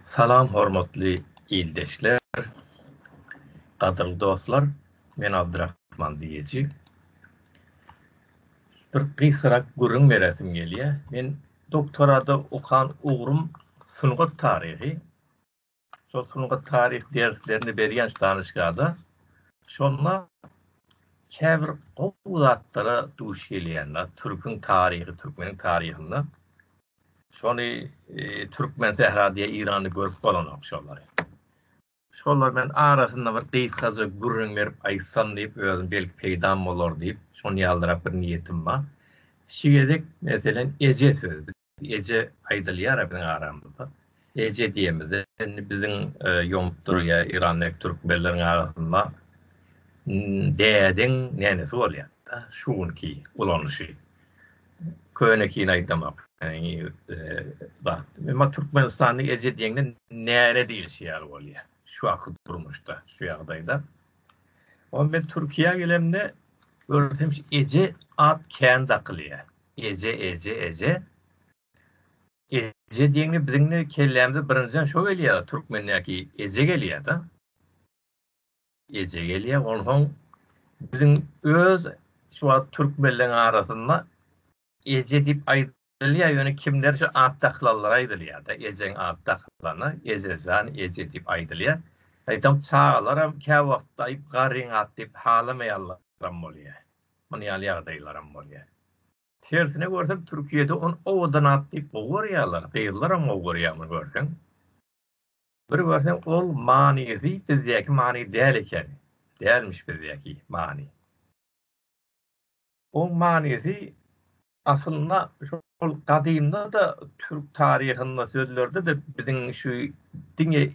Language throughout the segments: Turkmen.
Salam hormatly ildeşler, gadyrly dostlar, men Abdyrahman diýeji. Bir gysgarak gürrüň beresim gelýär. Men doktorada okan ugrum sungat taryhy. Şol sungat taryh derslerini berýän danyşgada şonda käbir gowy zatlara duş gelýänler. Türküň taryhy, türkmeniň taryhynda şony e, türkmen sähra diýe Irany görüp bolanok şolary. Şolar men arasynda bir gysgaja gürrüň berip aýtsam diýip özüm belki peýdam bolar diýip şony ýaldyrak bir niýetim bar. Şu gezek meselen eje sözi Eje aýdylýar-a biziň aramyzda. Eje diýemizde indi biziň ýomup durýa Irandaky türkmenleriň arasynda dädiň nenesi bolýar-da şu günki ulanyşy. Könekini aýdamak Emma Türkmenistanda eje diýeňde nene diýlişi ýaly bolýar. Şu wagtky durmuşda, şu ýagdaýda. Onda men Türkiýä gelemde görsem eje at kän dakylýar. Eje eje eje Eje diýeňde biziň de kellämize birinjiden şo gelýär türkmendäki eje gelýär da. Eje gelýär onsoň biziň öz şu wagt türkmenleriň arasynda eje diýip aýdylýar ýöne kimler şu at daklanlara aýdylýar da ejeň at daklana ejejan eje diýip aýdylýar. Aýtam çagalaram kä wagtda aýyp garyň at diýip halamaýanlaram bolýar. Muny ýaly ýagdaýlaram bolýar. Tersine görseň Türkiýede ony owadan at diýip gowy görýärler, gyzlaram gowy görýär muny görseň. Bir görseň ol manysy bizdäki many däl eken. Dälmiş bizdäki many. Oň manysy aslynda şol gadymda-da türk taryhynda sözlerde-de biziň şu diňe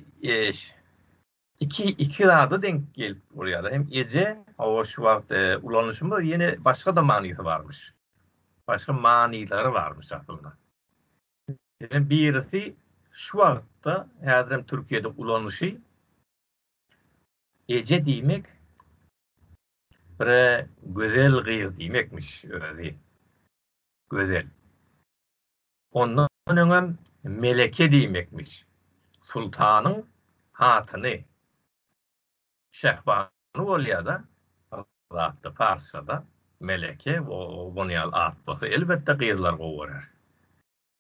iki iki zada denk gelip bolýar. Hem eje, o şu wagt e, ulanyşymda ýene başga-da manysy barmyş. Başga manylary barmyş aslynda. Hem birisi şu wagtda häzir hem Türkiýede ulanyşy eje diýmek bir gözel gyz diýmekmiş özi. Gözel. Ondan öňem meleke diýmekmiş. Sultanyň hatyny. Şähbanu bolýar-da, zatda parsçada meleke owan ýaly at bolsa, elbetde gyzlar gowy görer.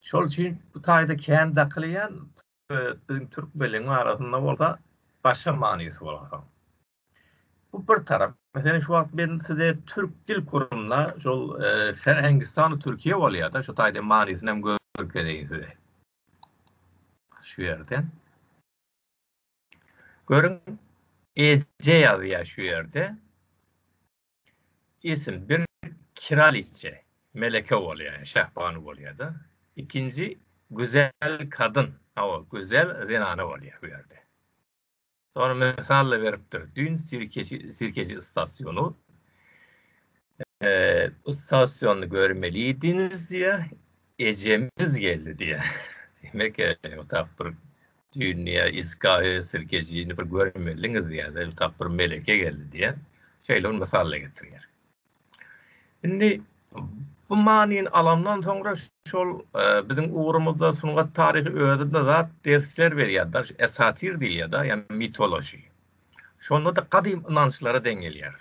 Şol üçin bu taýda kän dakylýan, Biziň türk belligiň arasynda bolsa başga manysy bolar. Bu bir tarap. Meselem şu wagt men size türk dil kurumyna şol e, sen Hindistan Türkiye bolýar da şu taýda manysyny hem görkezeýin size. Şu ýerde. Görün Ece ýazýar şu ýerde. Isim bir kiraliçe, meleke bolýar, ýa şähbanu bolýar-da. Ikinji güzel kadyn, hawa, gözel zenana bolýar bu ýerde. Soňra mysal-da beripdir, düýn sirkeçi, sirkeçi istasyonu, eee, istasyony görmelidiňiz diýýär, ejemiz geldi diýýär. Demek, eee, otap bir Dünýä Isgahy Sirkejini bir görmeliňiz diýýär, el tap bir meleke geldi diýýär. Şeýle bir mysal-da getirýär. Indi bu manyny alandan soňra şol e, biziň ugrumyzda sungat taryhy özünde zat dersler berýär-de, esatir diýilýär-de, ýa mitologiýa. Şonda da gadym ynançlara deň gelýär.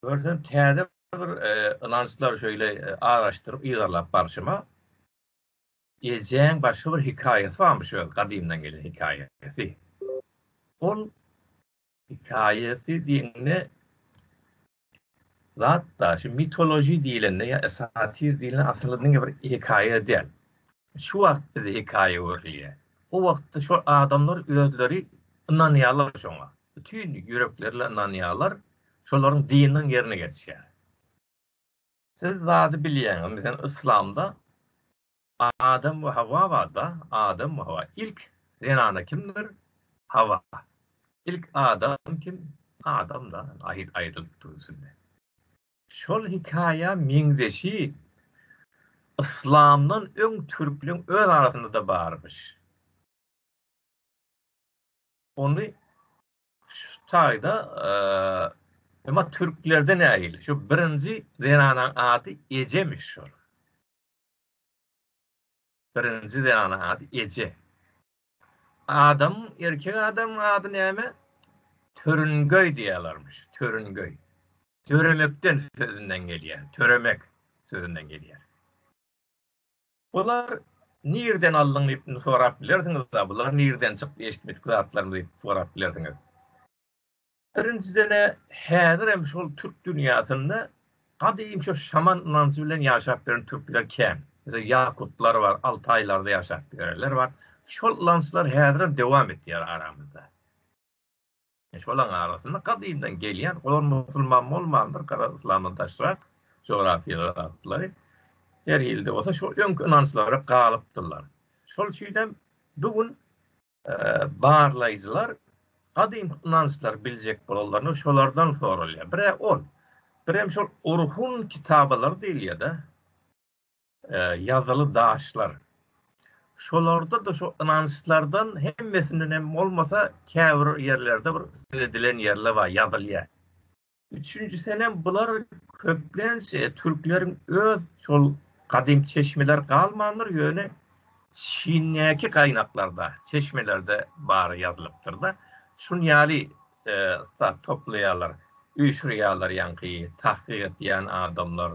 Görsen täze bir e, ynançlar şöyle e, araşdyryp yzarlap barşyma Ejäň başga bir hikaýasy barmyş öz gadymdan gelen hikaýasy. Ol hikaýasy diýende zat da şu mitoloji diýlende ýa esatir diýlen asyl diňe bir hikaýa däl. Şu wagt bize hikaýa öwrülýär. O wagtda şu adamlar özleri ynanýarlar şoňa. Bütün ýüreklerle ynanýarlar. Şolaryň dininiň ýerine geçýär. Siz zady bilýäňiz meselem yslamda Adam we Hawa barda Adam we Hawa ilk zenana kimdir Hawa ilk Adam kim Adam da aýyt aýdylyp durusynda şol hikaýa meňzeşi yslamdan öň türkleň öz arasynda da barmyş ony Şu taýda emma türklerde nähili? Şu birinji zenanaň ady Ejemiş şol. Birinji zenanaň ady Eje. Adam, erkek adam ady näme? Törüngöý diýýärlermiş. Törüngöý. Töremekden sözünden gelýär. Töremek sözünden gelýär. Bular nirden aldyň diýip indi sorap bilersiňiz-a, bular nirden çykdy eşitmedik zatlarmy diýip sorap bilersiňiz. Birinjiden-ä häzirem şol türk dünýäsinde gadym şu şaman ynanjy bilen ýaşap ýören türkler kän. Meselem, ýakutlar bar, altaýlarda ýaşap ýörenler bar. Şol ynançlar häzirem dowam etýär aramyzda. Şolaryň arasynda gadymdan gelýän, olar musulman bolmandyr, garaz yslamdan daşrak jografyýalar atlary her ýylda bolsa şu öňki ynançlara galypdyrlar. Şol üçin hem bu gün barlaýjylar gadym ynançlary biljek bolanlaryna şolardan soralýar. Bire ol, birem şol Orhun kitabalary diýilýär-de. ýazyly daşlar. Şolarda-da şo ynançlardan hemmesinden hem bolmasa käbir ýerlerde bir söz edilen ýerler bar, ýazylýar. Üçünjisem hem bular köplenç türkleriň öz şol gadymy çeşmeleri galmandyr, ýöne Çindäki gaýnaklarda, çeşmelerde bary ýazylypdyr-da. Şun ýaly zat toplaýarlar, üýşürýärler ýaňky tahkyk edýän adamlar.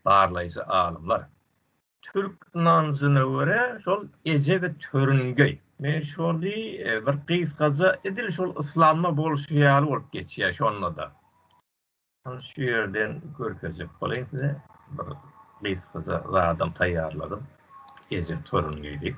Barlaýjy alymlar. Türk ynanjyna görä şol eje we törüngeý. Men şony bir gysgaja edil şol yslamda bolşy ýaly bolup geçýär şondada. Şony şu ýerden görkezjek bolaýyn size. Bir gysgaja zadam taýýarladym. Eje törüngeý diýip.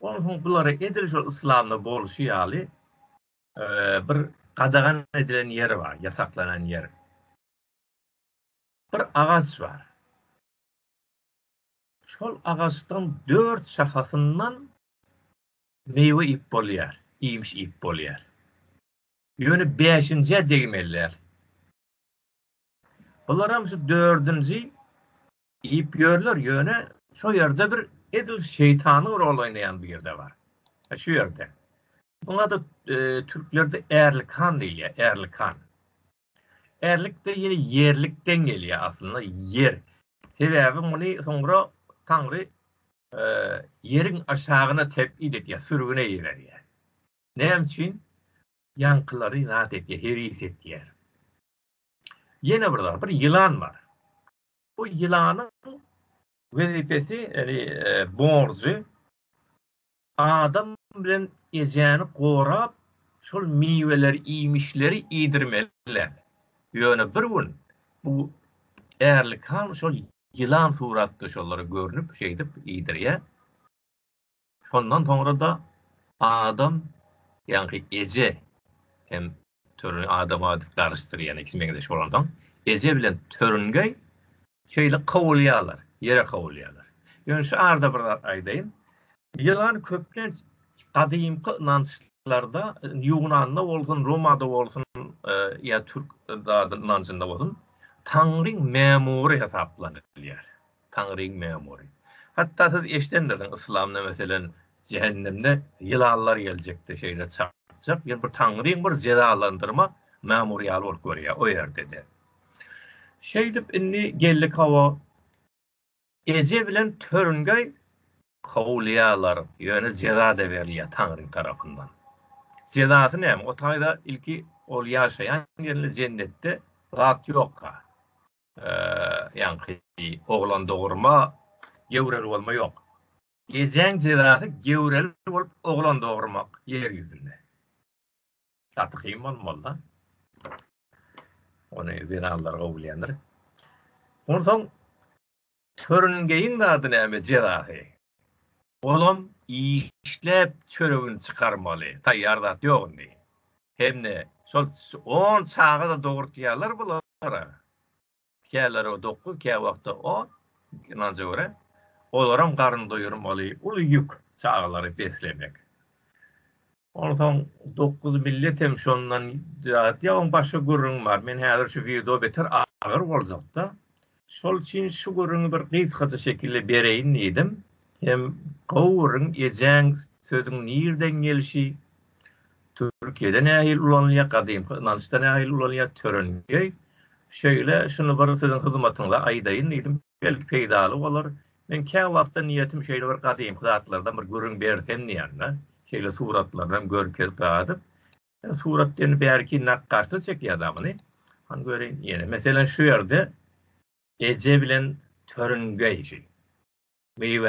Ondan soň bulara edil şol yslamda bolşy ýaly bir gadagan edilen ýer bar, ýasaklanan ýer. Bir agaç bar. Şol agaçdan dört şahasyndan meýwe ip bolýar, iýmiş ip bolýar. Ýöne beşinjä degmeliler. Bular hem şu dördünji Iýip ýörler ýöne şo ýerde bir edil şeýtanyň rol oýnaýan bir ýerde bar. E, şu ýerde. Muňa da e, türklerde ärlikan diýilýär, ärlikan. Ärlik de ýene ýerlikden gelýär aslynda, ýer. Sebäbi muny soňra Taňry e, ýeriň aşagyna tebid edýär, sürgüne ýererýär. Näme üçin? Ýaňkylary zat etýär, heris etýär. Ýene bir zat, bir ýylan bar. Bu ýylanyň wezipesi, ýagny borjy adam bilen ejäni gorap, şol miweleri, iýmişleri iýdirmeli. Ýöne bir gün bu Ärlik han şol ýylan suratda şolara görnüp, şeýdip iýdirýär. Şondan soňra-da adam, ýaňky eje hem törün adama garyşdyrýan iki meňzeş bolansoň, eje bilen törüngeý şeýle kowulýarlar, ýere kowulýarlar. Ýöne şu arada bir zat aýdaýyn. Ýylan köplenç gadymky ynançlarda, Ýunanda bolsun, Romada bolsun ýa türk ynanjynda bolsun, taňryň mämury hasaplanylýar. Taňryň mämury. Hatda siz eşidendirsiň yslamda meselem jähennemde ýylanlar geljekdi şeýle çakjak ýa bir taňryň bir jezalandyrma mämury ýaly bolup görýär o ýerdede. Şeýdip indi geldik hawa eje bilen törüngeý kowulýarlar ýöne jezada berilýär taňryň tarapyndan. Jezasy näme o taýda ilki ol ýaşaýan ýerinde jennetde zat ýokka. ýaňky oglan dogurma, göwreli bolma ýok. Ejäň jezasy göwreli bolup oglan dogurmak ýer ýüzünde. Gaty kyn bolmaly-da. Ony zenanlar gowulýandyr. Onsoň Törüngeýiň zady näme jezasy. Olam işläp çöregini çykarmaly taýýar zat ýok indi. Hemde şol on çagada dogurtýarlar bulara. Käleri dokuz kä wagtda on ynanja görä. Olaram garyn doýurmaly uly ýük çagalary beslemek. Onsoň dokuz millet hem şondan zat ýa oň başga gürrüňi bar. Men häzir şu wideo beter agyr boljakda. Şol üçin şu gürrüňi bir gysgaça şekilde bereýin diýdim. Hem gowuryn ejäň sözüň nirden gelişi, Türkiýede nähili ulanylýar, gadymky ynançda nähili ulanylýar, törengeý. Şeýle şuny bir siziň hyzmatyňyza aýdaýyn diýdim. Belki peýdaly bolar. Men käwagtda niýetim şeýle bir gadymky zatlardan bir gürrüň bersem diýýän-de. Şeýle suratlarynam görkezip gadyp. Surat diýeni bärki nakgaşlar çekýär da muny. Hany göreýin ýene. Meselem şu ýerde eje bilen törüngeý. Miwe